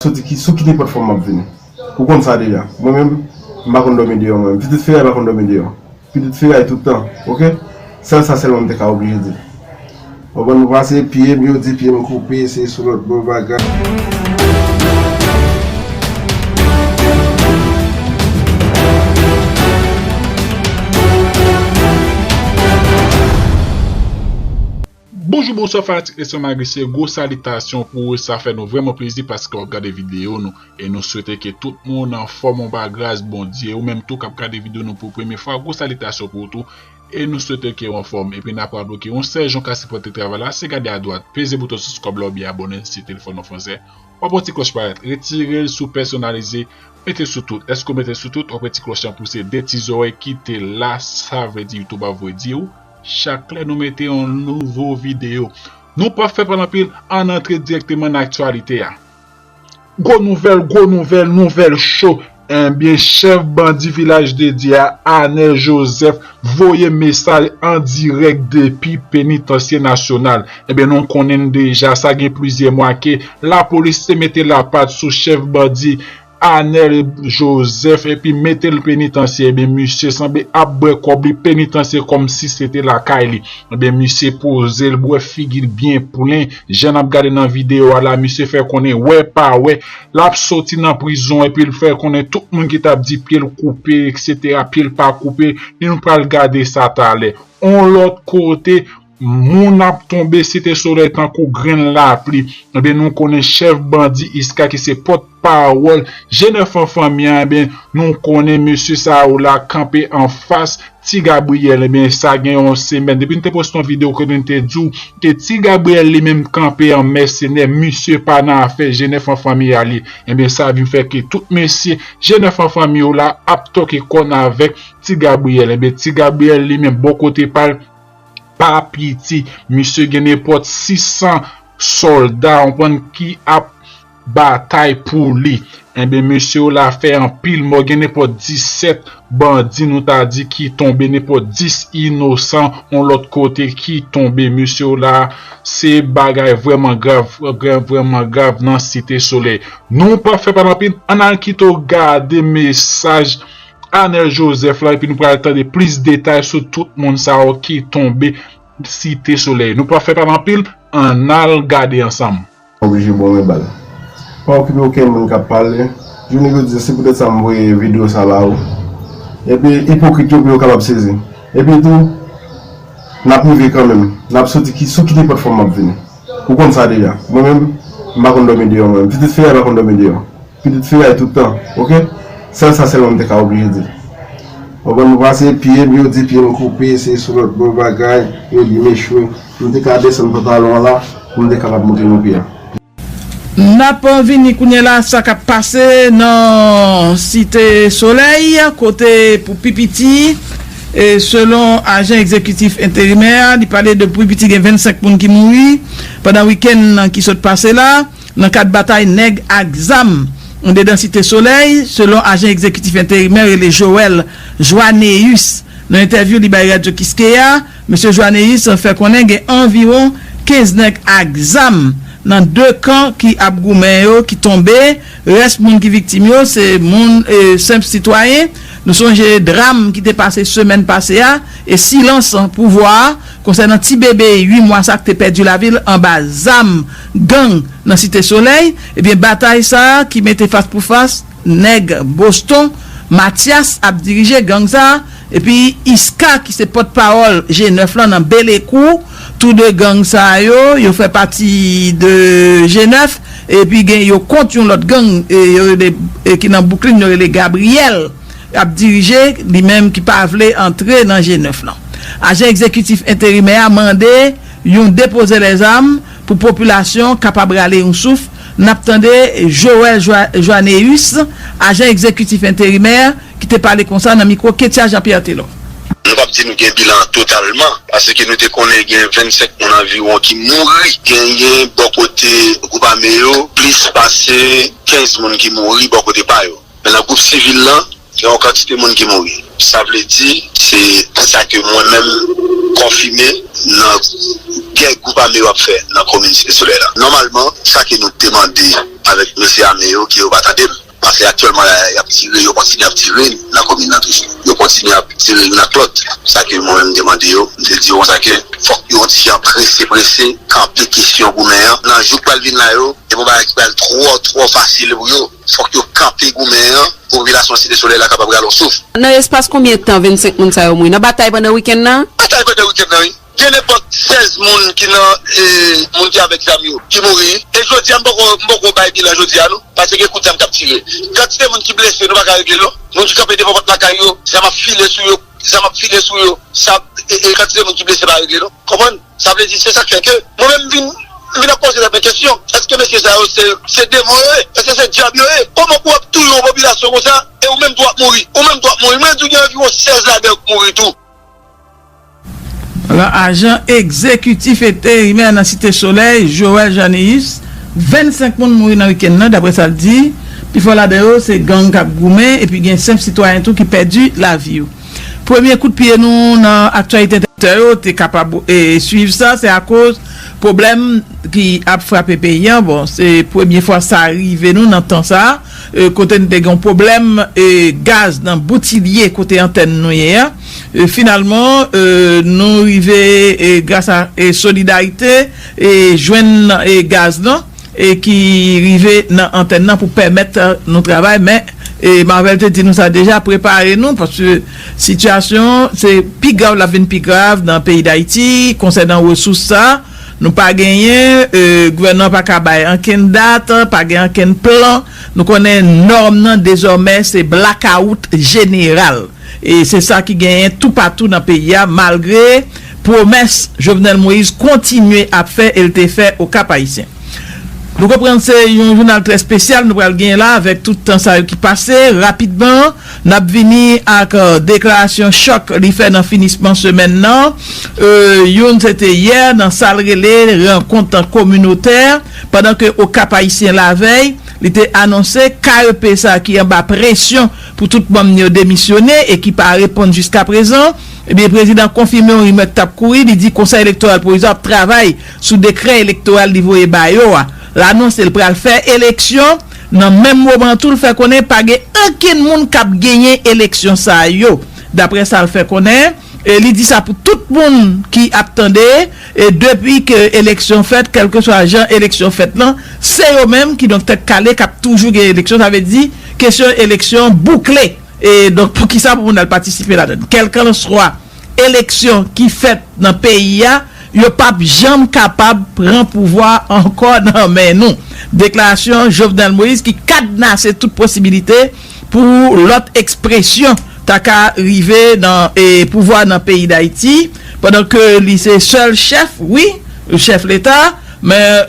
Soti ki, sou ki depant fòm map vini. Ou konn sa deja. Mwen menm, m pa konn dòmi deyò mwen menm. Pitit Feray pa konn dòmi deyò. Pitit Feray tout tan. Ok? Sèl sa sèlman m te ka oblije di. Konprann m pase pye m, yo di pye m koupe, se sou lòt bò bagay. Bonjou bonswa fanatik Leson Magicien gwo salitasyon pou ou sa fè nou vrèman plezi paske wap gade videyo nou e nou swete ke tout moun anfòm ou pa gras Bondye ou menm tou kap gade videyo nou pou premye fwa gwo salitasyon pou ou tou e nou swete kew anfòm epi nap raple ou ke yon sèl jan ou ka sipòte travay la se gade adwat peze bouton sibskrab la oubyen abòne si telefòn ou fransè wap wè ti klòch parèt retirel sou pèsonalize mete sou tout lèske ou metel sou tout wap wè ti klòch lan pouse de ti zòrèy kite la sa vle di youtube ap voye diw Chak lè nou mete yon nouvo videyo Nou pap fè pale anpil ann antre dirèkteman nan aktyalite a. Gwo nouvèl gwo nouvèl nouvèl cho Ebyen chèf bandi vilaj de Dye a Anel Joseph voye mesaj an dirèk depi penitansye nasyonal Ebyen nou konnen deja sa gen plizyè mwa ke lapolis te mete lapat sou chèf bandi Anel Joseph epi metel penitansye ebyen misye sanble ap bwè kòb li penitansye kòmsi se te lakay li ebyen misye pozel bwè figil byen plen jan nap gade nan video a la misye fè konnen wè pa wè lap soti nan prizon epil fè konnen tout moun ki tap di pyel koupe etc pyel pa koupe nou pral gade sa talè on lòt kote. Moun ap tonbe Site Solèy tankou grenn lapli. Ebyen nou konnen chèf bandi Isca ki se pòt pawòl Jen Enfan Fanmi an ebyen nou konnen mesye sa yo la kanpe anfas Ti Gabriel ebyen sa gen yon semèn depi nou te poste yon video kote nou te di w ke Ti Gabriel li menm kanpe an mèsenè misye pa nan afè Jen Enfan Fanmi a li ebyen sa vin fè ke tout mesye Jen Enfan Fanmi yo la ap toke kòn avèk Ti Gabriel ebyen Ti Gabriel li menm bò kote pa l pa piti misye gen nenpòt 600 sòlda ou konprann ki ap batay pou li enben mesye yo la fè anpil mò gen nenpòt 17 bandi nou ta di ki tonbe nenpòt 10 inosan yon lòt kote ki tonbe mesye yo la se bagay vrèman grav vrèman grav nan site solèy nou pa fè pale anpil ann al kito gade mesaj Anel Joseph la epi nou pral tande plis detay sou tout moun sa yo ki tonbe Site Solèy. Nou pa fè pale anpil, annal gade ansanm. Oblije bon men bal. Pa okipe okenn moun kap pale, jounen jodi a se poutèt sa m voye video sa ba ou epi ipokrit yo pou yo kapab sezi. Epi tou nap rive kanmenm, nap soti ki sou ki nenpòt fòm map vini. Ou konn sa deja. Mwen menm m pa konn dòmi deyò mwen menm. Pitit Ferre pa konn dòmi deyò. Pitit fi a e tout tan ok. Sèl sa sèlman m te ka oblije di l. Ou konprann m papa se pye m yo di pye m koupe se sou lòt bò bagay yo di m echwe. M te ka desann pantalon an la pou m te kapab montre nou pye a. N ap vini kounye la sa k ap pase nan Site Solèy kote pou pi piti e selon ajan egzekitif enterimè a li pale de pou pi piti gen 25 moun ki mouri pandan wikenn ki sot pase la. nan kad batay nèg ak zam andedan Site Solèy, selon ajan egzekitif enterimè rele Joel Joanneus. Nan entèvyou li bay Radyo Kiskeya, Mesye Joanneus fè konnen gen anviwon 15 nèg ak zam nan 2 kan ki ap goumen yo ki tonbe, rès moun ki viktim yo se moun senp sitwayen. Nou sonje dram ki te pase semèn pase a e silans pouvwa a konsènan ti bebe 8 mwa sa k te pèdi lavi l anba zam. Gang nan Site Solèy, ebyen batay sa a ki mete fas pou fas nèg Boston, Matyas ap dirije gang sa a epi Iska ki se pòt pawòl G9 lan nan Belekou, tou 2 gang sa yo, yo fè pati de G9 epi gen yo kont yon lòt gang yo rele ki nan Bouklin yo rele Gabriyèl ap dirije li menm ki pa vle antre nan G9 lan. Ajan egzekitif enterimè a mande yon depoze lèzam. Pou popilasyon kapab rale yon souf, n ap tande Joël Joanneus, ajan egzekitif enterimè, ki te pale konsa nan mikwo Kettia Jean Pierre Telor. Nou pap di nou gen bilan an totalman, paske nou te konnen gen 25 moun anviwon ki mouri. Genyen bò kote gwoup ame yo plis pase 15 moun ki mouri bò kote pa yo. Men nan gwoup sivil lan, gen yon kantite moun ki mouri. Sa vle di, se sa ke mwen menm konfime nan gè gwoup ame yo ap fè nan komin Site Solèy la. Nòmalman, sa ke nou te mande avèk mesye ame yo, ke yo pa tande m, pase aktyèlman la, y ap tire, yo kontinye ap tire nan komin lan toujou. Yo kontinye ap tire youn ak lòt. Sa ke mwen menm m te mande yo, m te di yo konsa ke fòk yo yon ti jan prese prese kanpe kesyon goumen an nan jou k pral vin la yo. Gen yon bagay ki pral twò twò fasil pou yo. Fòk yo kanpe goumen an pou popilasyon Site Solèy la kapab rale yon souf. Nan espas konbyen tan 25 moun sa yo mouri nan batay pandan wikenn nan? Batay pandan wikenn nan wi. Gen nenpòt 16 moun ki nan moun ki avèk zam yo ki mouri. E jodi a m poko m poko bay bilan jodi a non. Pase gen kout zam k ap tire. Kantite moun ki blese nou pa ka regle l non. Moun ki kanpe devan pòt lakay yo, zam ap file sou yo. zam ap file sou yo sa e kantite moun ki blese pa regle non konprann sa vle di se sak fè ke mwen menm m vin m vin ap poze tèt mwen kesyon eske mesye sa yo se se demon yo ye eske se dyab yo ye kòman pou ap touye yon popilasyon konsa e ou menm tou wap mouri ou menm tou wap mouri m vle di w gen anviwon 16 ladan yo k mouri tou. Lan ajan egzekitif eterimè nan Site Solèy, Joel Jean Néus, 25 moun mouri nan wikenn nan daprè sa l di. Pi fò ladan yo se gang k ap goumen epi gen senp sitwayen tou ki pèdi lavi yo. Premye kout pye nou nan aktyalite entènasyonal. Tè yo te kapab swiv sa se akoz pwoblèm ki ap frape peyi an. Bon se premye fwa sa rive nou nan tan sa kote nou te gen yon pwoblèm gaz nan Boutilye kote antèn nou ye a. Finalman nou rive gras a solidarite. jwenn gaz lan ki rive nan antèn nan pou pèmèt nou travay men Marvel te di nou sa deja prepare nou paske sitiyasyon an se pi grav l ap vin pi grav nan peyi Dayiti konsènan resous sa nou pa genyen gouvènman an pa ka bay ankenn dat pa gen ankenn plan nou konnen nòm nan dezòmè se blakawout jeneral. E se sa ki genyen toupatou nan peyi a malgre pwomès Jovenel Moïse kontinye ap fè e l te fè o Kap Ayisyen. Nou konprann se yon jounal trè spesyal nou pral genyen la avèk tout tan sa yo ki pase. Rapidman, n ap vini ak deklarasyon chòk li fè nan finisman semèn nan. Youn se te yè nan sa l rele rankont kominotè pandan ke o Kap Ayisyen lavèy li te anonse KEP sa ki anba presyon Pou tout manm ni yo demisyone e ki pa reponn jiskaprezan, ebyen prezidan konfime yon rimè ki t ap kouri, li di Konsèy Elektoral Pwovizwa ap travay sou dekrè elektoral li voye ba yo a. L anonse l pral fè eleksyon, nan menm moman an tou l fè konnen pa gen okenn moun k ap genyen eleksyon sa yo, daprè sa l fè konnen. E li di sa pou tout moun ki ap tande e depi ke eleksyon fèt kèlkeswa jan eleksyon fèt lan se yo menm ki donk tèt kale kap toujou gen eleksyon sa vle di kesyon eleksyon boukle e donk poukisa pou moun al patisipe ladann kèlkanswa eleksyon ki fèt nan peyi a yo pap janm kapab pran pouvwa ankò nan men nou deklarasyon Jovenel Moïse ki kadnase tout posibilite Pou lòt ekspresyon ta ka rive nan pouvwa nan peyi Dayiti pandan ke li se sèl chèf, wi, chèf leta, men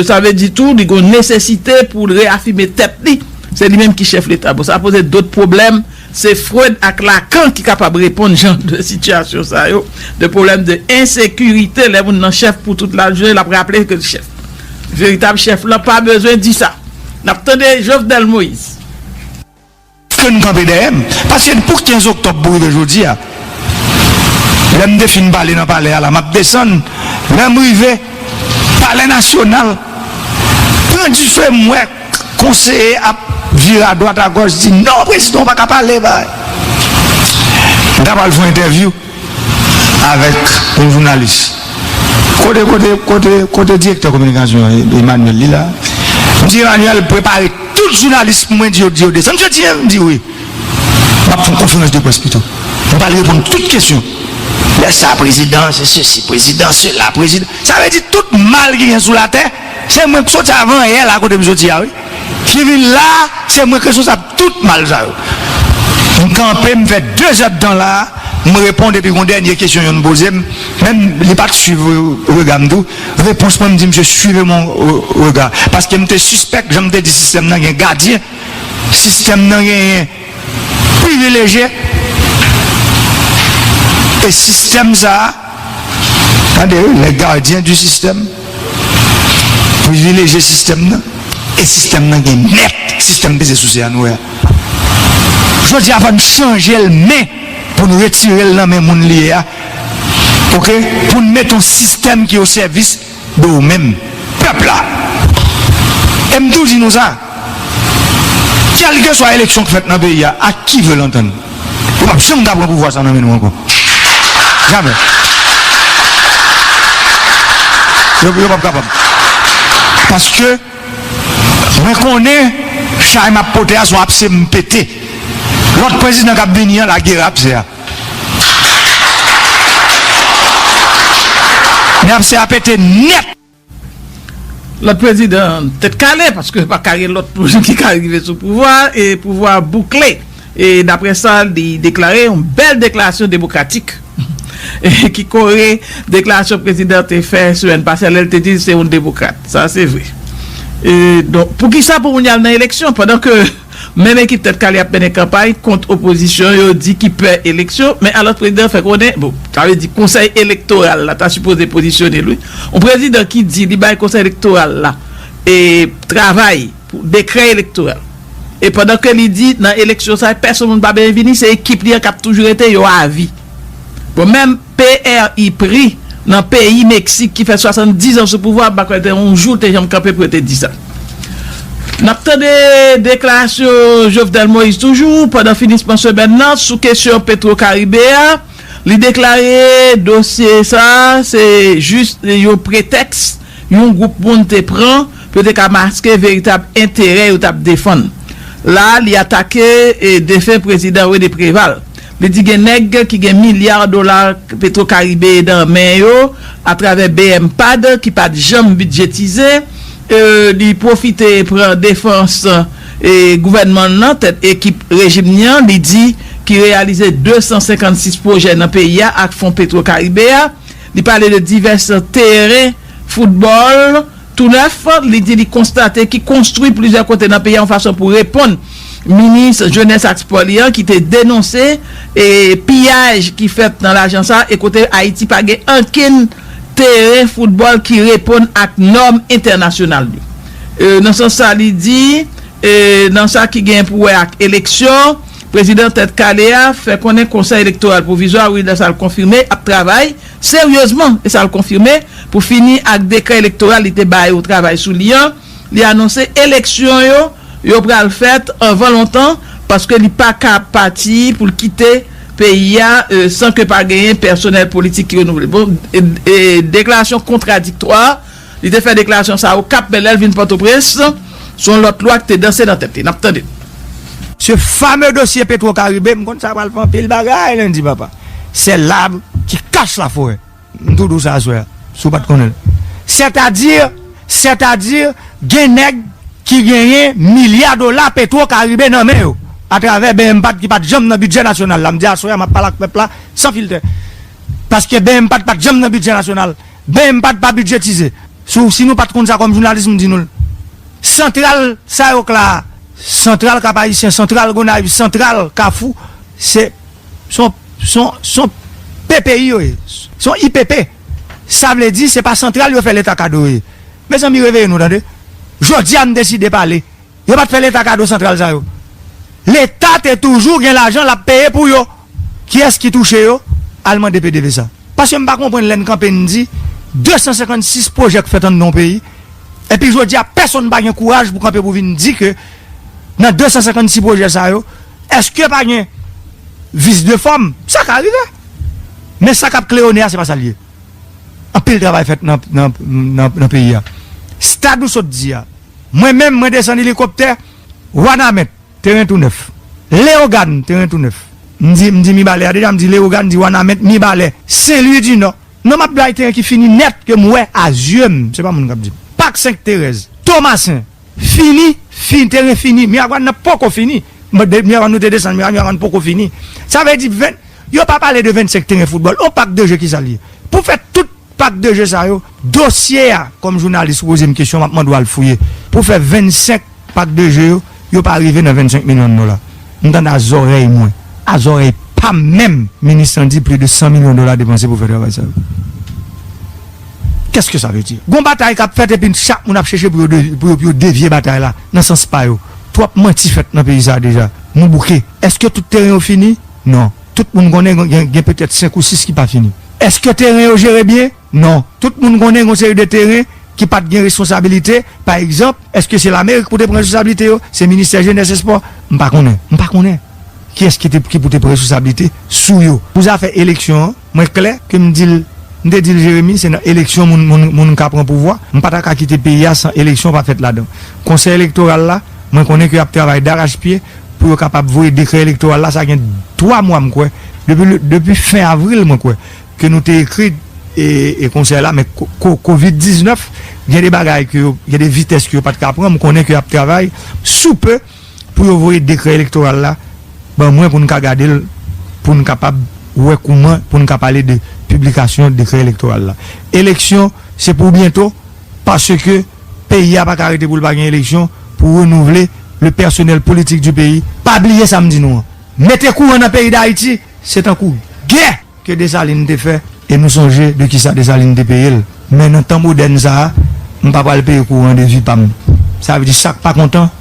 sa vle di tou li gon nesesite pou l reyafime tèt li, se li menm ki chèf leta. Bon sa poze dot pwoblèm, se Freud ak Lacan ki kapab reponn jan de sitiyasyon sa yo, de pwoblèm de ensekirite lè moun nan chèf pou tout lajounen l ap raple ke l chèf. Veritab chèf lan pa bezwen di sa. N ap tande Jovenel Moïse. Ke n kanpe dèyè m. Paske depi 15 oktòb pou rive jodi a, lè m te fin pale nan palè a la, m ap desann, lè m rive palè nasyonal, pran dife m wè konseye ap vire adwat agòch di non prezidan w pa ka pale, m ta pral fè yon entèvyou. Avèk yon jounalis. Kote kote kote kote direktè kominikasyon an Emmanuel li la? Msye Emmanuel prepare tout jounalis pou mwen di yo di yo desann jodi an? M di wi. Map fè yon konferans de près pito. M pral reponn tout kesyon. Lè sa prezidan se sesi prezidan sela prezidan. Sa vle di tout mal ki gen sou latè se mwen k soti avan yè la kote m soti a wi. Ki vin la se mwen k responsab tout mal sa yo. M kanpe m fè dezèdtan la m reponn epi gon dènye kesyon yonn poze m menm li pat swiv rega m tou repons mwen m di msye swive m on rega paske m te sispèk jan m te di sistèm nan gen gadyen sistèm nan genyen privilejye e sistèm sa a, tande wi, les gardiens du système, privilejye sistèm nan e sistèm nan gen mèt, sistèm peze souse a nou wè a. Jodi a fò n chanje l men pou n retire l nan men moun li ye a, ok, pou n mete yon sistèm ki osèvis. do ou menm pèp la e m tou di nou sa kèlkeswa eleksyon k fèt nan peyi a ak ki vle l antann yo pap janm ka pran pouvwa sa nan men nou ankò jamè yo pap kapab paske mwen konnen chay m ap pote a son apse m pete lòt prezidan k ap vini an lagere apse a. Men ap se a pete net. Lot prezidan tet kale paske pa ka gen lot moun ki ka rive sou pouvwa e pouvwa a boukle e dapre sa li deklare yon bel deklarasyon demokratik ki kore deklarasyon prezidan te fè semen pase lel te di se yon demokrat sa se vre e donk poukisa pou moun yal nan eleksyon pandan ke Menm ekip Tèt Kale ap mennen kanpay kont opozisyon yo di ki pè eleksyon, men alòs prezidan an fè konnen, bon, sa vle di konsèy elektoral la ta sipoze pozisyone l wi, yon prezidan ki di li bay konsèy elektoral la e travay pou dekrè elektoral e pandan ke li di nan eleksyon sa pèsonn moun pa byenvini, se ekip li an k ap toujou rete, yo avi. Bon menm PRI pri nan peyi Mexique ki fè 70 ans sou pouvwa m pa kwè te yon jou l te janm kanpe pou yo te di sa. Nap tande deklarasyon Jovenel Moïse toujou pandan finisman semèn lan sou kesyon Petro Caribe a li deklare dosye sa se jis yon pretèks yon gwoup moun te pran pou yo te ka maske veritab enterè yo tap defann. La li atake defen prezidan René Préval. Li di gen nèg ki gen milya dola Petrocaribe nan men yo atravè bmpad ki pa t janm bidjetize. Li pwofite pran defans gouvènman l lan, tèt ekip rejim ni an, li di ki reyalize 256 pwojè nan peyi a ak fon Petrocaribe a. Li pale de divès teren foutbòl. Tounèf, li di li konstate ki konstwi plizyè kote nan peyi a yon fason pou reponn minis jenès ak spò li an ki te denonse piyaj ki fèt nan lajan sa e kote Ayiti pa gen ankenn teren foutbòl ki reponn ak nòm entènasyonal yo. Nan sans sa li di nan sa ki gen pou wè ak eleksyon, prezidan Tèt Kale a fè konnen Konsèy Elektoral Pwovizwa wi lè sa l konfime ap travay Seryezman, e sa l konfime, pou fini ak dekrè elektoral li te ba yo travay sou li an, li anonse eleksyon yo yo pral fèt anvan lontan paske li pa ka pati pou l kite peyi a san ke pa genyen pèsonèl politik ki renouvle. Bon, deklarasyon kontradiktwa Li te fè deklarasyon sa yo Kap men lè l vin Pòtoprens, se yon lòt lwa ki te danse nan tèt li. N ap tande l. Ce fameux dossier petro caribe m konn sa pral fè anpil bagay lundi papa c'est l'arbre qui cache la forêt m tou di w sa aswè a si w pat konnen l c'est à dire c'est à dire gen nèg ki genyen milya dola petro caribe nan men yo à travers bnpad ki pat janm nan bidjè nasyonal la m di aswè a m ap pale ak pèp la san filtè paske bnpad pat janm nan bidjè nasyonal Bmpad pa bidjetize. Sou si nou pat konn sa kòm jounalis m di nou l. Santral sa yo k la a, santral Kap Ayisyen, santral Gonayiv, santral Kafou se son son son ppi yo ye. Son IPP. Sa vle di se pa santral yo fè leta kado yo ye. Mezanmi reveye nou tande. Jodi a m deside pale. Yo pat fè leta kado santral sa yo. Leta te toujou gen lajan lap peye pou yo. Kiyès ki touche yo? Al mande pdvsa. Paske m pa konprann lè n kanpe n di 256 pwojè k fèt anndan yon peyi epi jodi a pèsonn pa gen kouraj pou kanpe pou vin di ke nan 256 pwojè sa yo eske pa gen vis de fòm? Sa ka rive. Men sa kap kleyone a se pa sa l ye. Anpil travay fèt nan peyi a. Stad ou sot di a. Mwen menm, mwen desann elikoptè, Wanament, teren tou nèf. Leyogàn, teren tou nèf. M di, m di Mibalè a deja, m di Leyogàn, m di Wanament, Mibalè, Senlwi di Nò. Non m ap bay teren ki fini nèt, ke m wè a zye m, se pa moun k ap di m. Pak Senk Terèz, Tomasen, fini, fini, teren fini. Miragwàn nan poko fini. Miragwàn nou te desann, Miragwàn poko fini. Sa vle di, yo pa pale de 25 teren foutbòl. On pak de je ki sa l ye? Pou fè tout. Pak de je sa yo, dosye a kòm jounalis ou poze m kesyon map mande w al fouye pou fè 25 pak de je yo, yo pa rive nan 25 milyon dola. M tande a zòrèy mwen, a zòrèy pa m menm minis lan di pli de 100 milyon dola depanse pou fè travay sa yo. Kèske sa vle di? Gon batay kap fèt epi chak moun ap chèche pou yo pou yo devye batay la nan sans pa yo. Twòp manti fèt nan peyi sa deja. Nou bouke. Èske tout teren yo fini? Non. Tout moun konnen gen petèt 5 ou 6 ki pa fini. Eske teren yo jere byen? Non. Tout moun konnen gen yon seri de teren ki pa t gen responsabilite. Pa egzanp, eske se Lamerik pou te pran responsablite yo? Se Ministè Jenès Espò? M pa konnen. M pa konnen kiyès ki pou te pran responsablite sou yo. Pou zafè eleksyon an, mwen klè ke m di l, m te di l Jeremi, se nan eleksyon moun ka pran pouvwa. M pa ta ka kite peyi a san eleksyon pa fèt ladan. Konsèy elektoral la, mwen konnen ke y ap travay darachpye. pou yo kapab voye dekrè elektoral la, sa gen 3 mwa m kwè, depi fen avril mwen kwè, ke nou te ekri e konsèy la, men kovid 19, gen de bagay ke yo, gen de vitès ke yo pat ka pran, m konnen ke yap travay sou pe pou yo voye dekrè elektoral la ban mwen pou n ka gade l, pou n kapab wè kouman pou n ka pale de piblikasyon dekrè elektoral la. Eleksyon se pou byento, paske. Peyi a pa ka rete pou l pa gen eleksyon pou renouvle le personnel politique du pays. Pa bliye sa m di nou an. Mete kouran nan peyi Dayiti, se tankou gè ke Desalin te fè e nou sonje de kisa Desalin te peye l. Men nan tan modèn sa a, m pa pral peye kouran de vi pa m. Sa vle di sa k pa kontan.